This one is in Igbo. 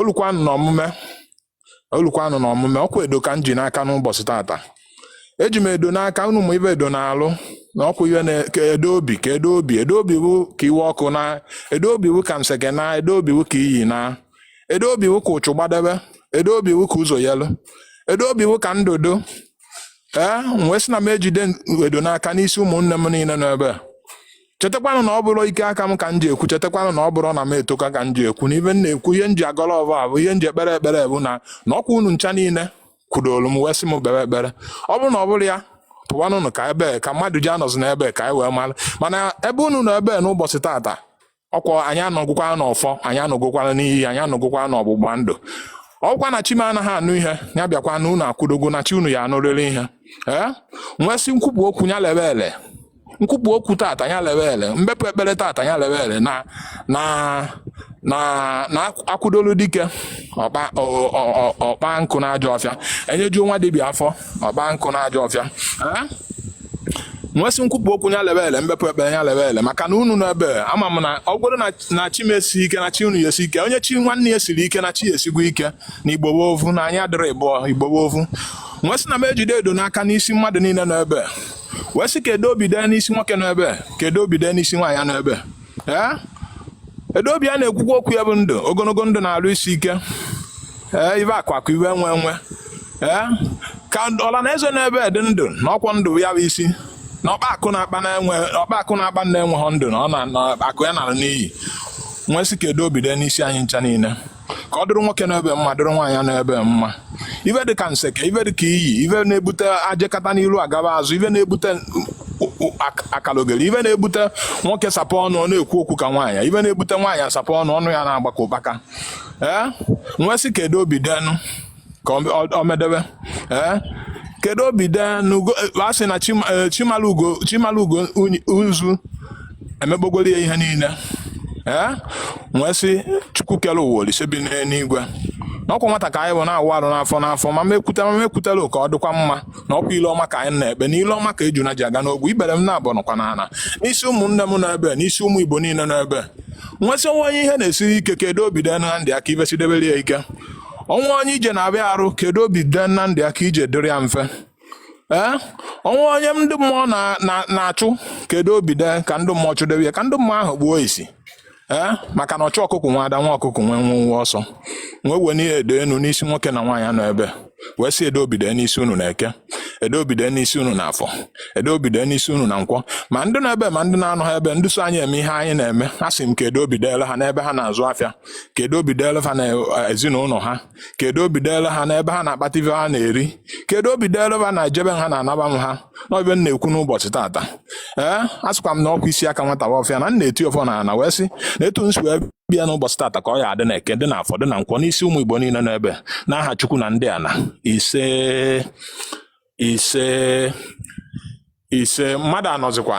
olukwanụ na ọmụme olukwanụ na ọmụme ọkwa edo ka m ji n'aka n'ụbọchị tata eji m edo n'aka unu ma ife edo na-alụ na ọkwa iwe na ka edo obi ka edo obi edo obi bụ ka iwe ọkụ na edo obi bụ ka nseke na edo obi bụ ka iyi na edo obi bụ ka ụchụ gbadebe edo obi bụ ka ụzọ yelu edo obi bụ ka ndodo ee m wee sị na m ejide edo n'aka n'isi ụmụnne m niile nọ ebe a chetakwanụ na ọ bụrọ ike aka m ka m ji ekwu chetakwanụ na ọ bụrọ na m etoka ka m ji ekwu na ife m na-ekwu ihe m ji agọrọ ọfọ a bụ ihe m ji ekpere ekpere bụ na na ọkwa unu ncha niile kwudoro m wee sị m kpere ekpere ọ bụrụ na ọ bụrọ ya pụwanụnụ ka ebe ka mmadụ ji anọzi n'ebe ka anyị wee mara mana ebe unu nọ ebe n'ụbọchị tata ọkwa anyị anọgokwa n'ọfọ anyị anọgokwala n'iyi anyị anọgokwa n'ọgbụgba ndụ ọkwa na chi m anaghị anụ ihe ya bịakwa na unu akwudogo na chi unu ya anụrịrị ihe ee m wee sị m kwupụ okwu ya lebe ele m kwupụ okwu tata ya lebe ele m kpepụ ekpere tata ya lebe ele na na na na akwudolu dike ọkpa ọ- ọ- ọ- ọ kpaa nkụ n'ajọ ọfịa enyejuo nwa dibịa afọ ọ kpaa nkụ n'ajọ ọfịa Eh? m wee sị m kwupụ okwu ya lebe ele m kpepụ ekpere ya lebe ele maka na unu nọ ebe ama m na ọ bụrụ na na chi m esi ike na chi unu ya esi ike onye chi nwanne ya siri ike na chi ya esigwo ike na igbo wụ ovu na anyị adịrọ ịbụọ igbo wụ ovu m wee sị na m ejide edo n'aka n'isi mmadụ niile nọ ebe wee sị ka edo obi dee n'isi nwoke nọ ebe ka edo obi dee n'isi nwaanyị nọ ebe ee edo obi a na-ekwukwa okwu ya bụ ndụ ogologo ndụ na alụ isi ike ee ife akụ akụ ife enwe enwe ee ka ọla na eze nọ ebe dị ndụ na ọkwa ndụ ya bụ isi na ọkpa akụ na-akpa na-enwe ọkpa akụ na-akpa na-enweghọ ndụ na ọ na akụ ya nara n'iyi m wee sị ka edo obi dee n'isi anyị ncha niile ka ọ dịrị nwoke nọ ebe mma dịrị nwaanyị nọ ebe mma ife dị ka nseke ife dị ka iyi ife na-ebute ajekata n'ilu agaba azụ ife na-ebute akalogeri ife na-ebute nwoke sapụ ọnụ ọ na-ekwu okwu ka nwaanyị ife na-ebute nwaanyị asapụ ọnụ ọnụ ya na-agba ka ụkpaka ee m wee sị ka edo obi deenụ ka ọ- ọ- ọ medebe ee ka edo obi dee na ugo eh, a sị na Chima- eh, chimalugo chimalugo unyi- uzu emekpogoro ya ihe niile ee wee sị chukwu kere ụwa olise bi n'eluigwe na ọkwa nwata ka anyị bụ na-awụ arụ n'afọ n'afọ ma mekwuta ma mekwutara ka ọ dịkwa mma na ọkwa ile ọma ka anyị na-ekpe na ile ọma ka ejuna ji aga n'ogwu ikpere m naabọ nọkwa n'ala n'isi ụmụnne m nọ ebe n'isi ụmụ igbo niile nọ ebe m wee sị o nwee onye ihe na-esiri ike ka edo obi dee na ndụ ya ka ife sidebere ya ike o nwee onye ije na-afịa arụ ka edo obi dee na ndụ ya ka ije dịrị ya mfe ee o nwee onye ndị mmụọ na-achụ ka edo obi dee ka ndị mmụọ chụdebe ya ka ndị mmụọ ahụ gbuo isi ee maka na ọchụ ọkụkụ nwe ada nwa ọkụkụ nwee nwa nwa ọsọ m wee welie edo enu n'isi nwoke na nwaanyị nọ ebe wee sị edo obi dee n'isi unu na eke edo obi dee n'isi unu na afọ edo obi dee n'isi unu na nkwọ ma ndị nọ ebe ma ndị na-anọghọ ebe ndị so anyị eme ihe anyị na-eme a sị m ka edo obi deele ha n'ebe ha na-azụ afịa ka udo obi dịrị ha na eh, ezinụlọ ha ka udo obi dịrị ha n'ebe ha na-akpata ife ha na-eri ka udo obi dịrị ha na ejebe ha na anabam ha na ọ bụ ya m na-ekwu n'ụbọchị tata ee eh, asịkwa m na ọkwa isi aka nwata ọfịa na m na-eti ọfọ na ana wee sị na etu m si wee bịa n'ụbọchị tata ka ọ ya adị na eke dị na afọ dị na nkwọ n'isi ụmụ Igbo niile n'ebe n'aha Chukwu na ndị ana ise mmadụ anọzikwa